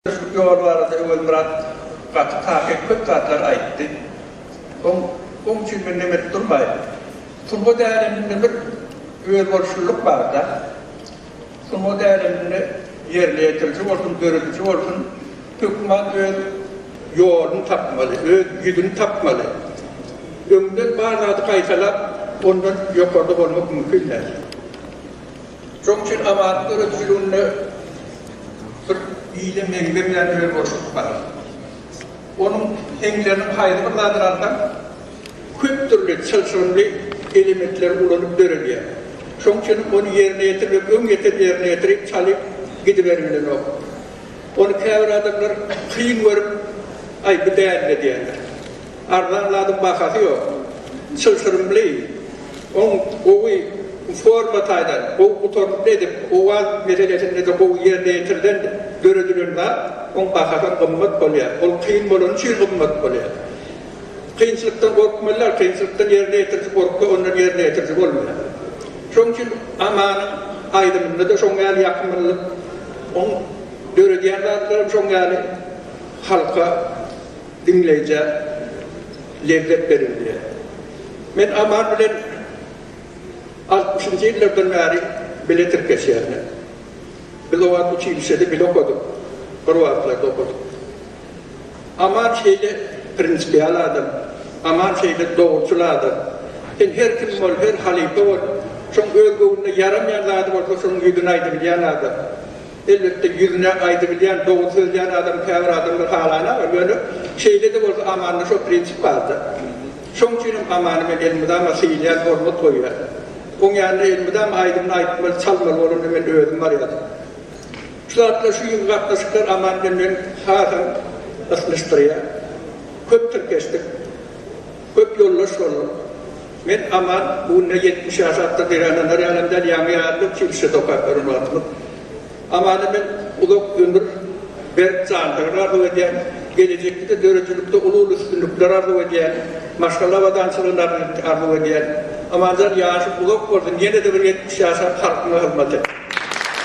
Şu ýol barada Öwezmyrat gaty takyk köp zatlar aýtdy. Oň oň üçin men nem edip durmaýyn. Sungat äleminde bir özboluşlylyk barda. Sungat äleminde ýerine ýetiriji bolsun, dörediji bolsun, hökman öz ýoluny tapmaly, öz ýüzüni tapmaly. Öňden bar zady gaýtalap, ondan ýokarda bolmak mümkin däl. Şonuň üçin amatyň döredijiliginde bir ýyly meňze bilen özboluşlyk bar. Onuň heňleriniň haýsy bir zadyny alsaň, köp dürli çylşyrymly elementleri ulanyp döredýär. Şonuň üçin ony ýerine ýetir we öň ýeten ýerine ýetirip çalyp gidiberilmlenok. Ony käbir adamlar kyn görüp, Aý, bu dälmi? diýýärler. Arzan zadyň bahasy ýok. Çylşyrymly, oň gowy forma taýdan, gowy gutarnykly edip, owaz meselesinde-de gowy ýerine ýetirilen, döredilen zat, oň bahasam gymmat bolýar. Ol kyn bolany üçin gymmat bolýar. Kynçylykdan gorkmalylar, kynçylykdan ýerine ýetiriji gorksa, ondan ýerine ýetiriji bolmaýar. Şoň üçin Amanyň aýdymynda-da şoň ýaly ýakymlylyk, oň döredýän zatlaram şoň ýaly halka. Diňleýjä lezzet berin diýýär. Men Aman bilen altmyşynjy ýyllardan bäri bile tirkeşýärler. Biz o wagt uçilişede bile okadyk, bir wagtlarda okadyk. Aman şeýle prinsipial adam, Aman şeýle dogruçyl adam. Sen her kim bol, her halypa bol, şoň öz göwnüne ýaramaýan zady bolsa şonuň ýüzüne aýdybilýän adam. Elbetde ýüzüne aýdybilýän, dogry sözlän adamy käbir adamlar halaýarlar, ýöne şeýle-de bolsa Amanda şo prinsip bardyr. Şoň üçinem Amany men elmydama syýylýan, hormat goýýan. Oň ýanynda elmydama aýdymyny aýtmaly, çalmaly bolanda men özüm barýardym. Şu zatlar, şu ýygy gatnaşyklar Aman bilen meni hasam ysnyşdyrýar. Köp tirkeşdik. Köp ýoldaş bolduk. Men Aman, bu günler ýetmiş ýaş atda gyrananlar ýalam däl, ýaňy ýarylyp, çilişe sokap ýören wagtymyz. Amana men uzak ömür, berk jansygyr arzuw edýän, gelejekde-de döredijilikde uly-uly üstünlikler arzuw edýän, maşgala abadançylygyny arzuw edýän. Amanjan ýaşyň uzak bolsun, ýene-de bir ýetmiş ýaşap halkyňa hyzmat et.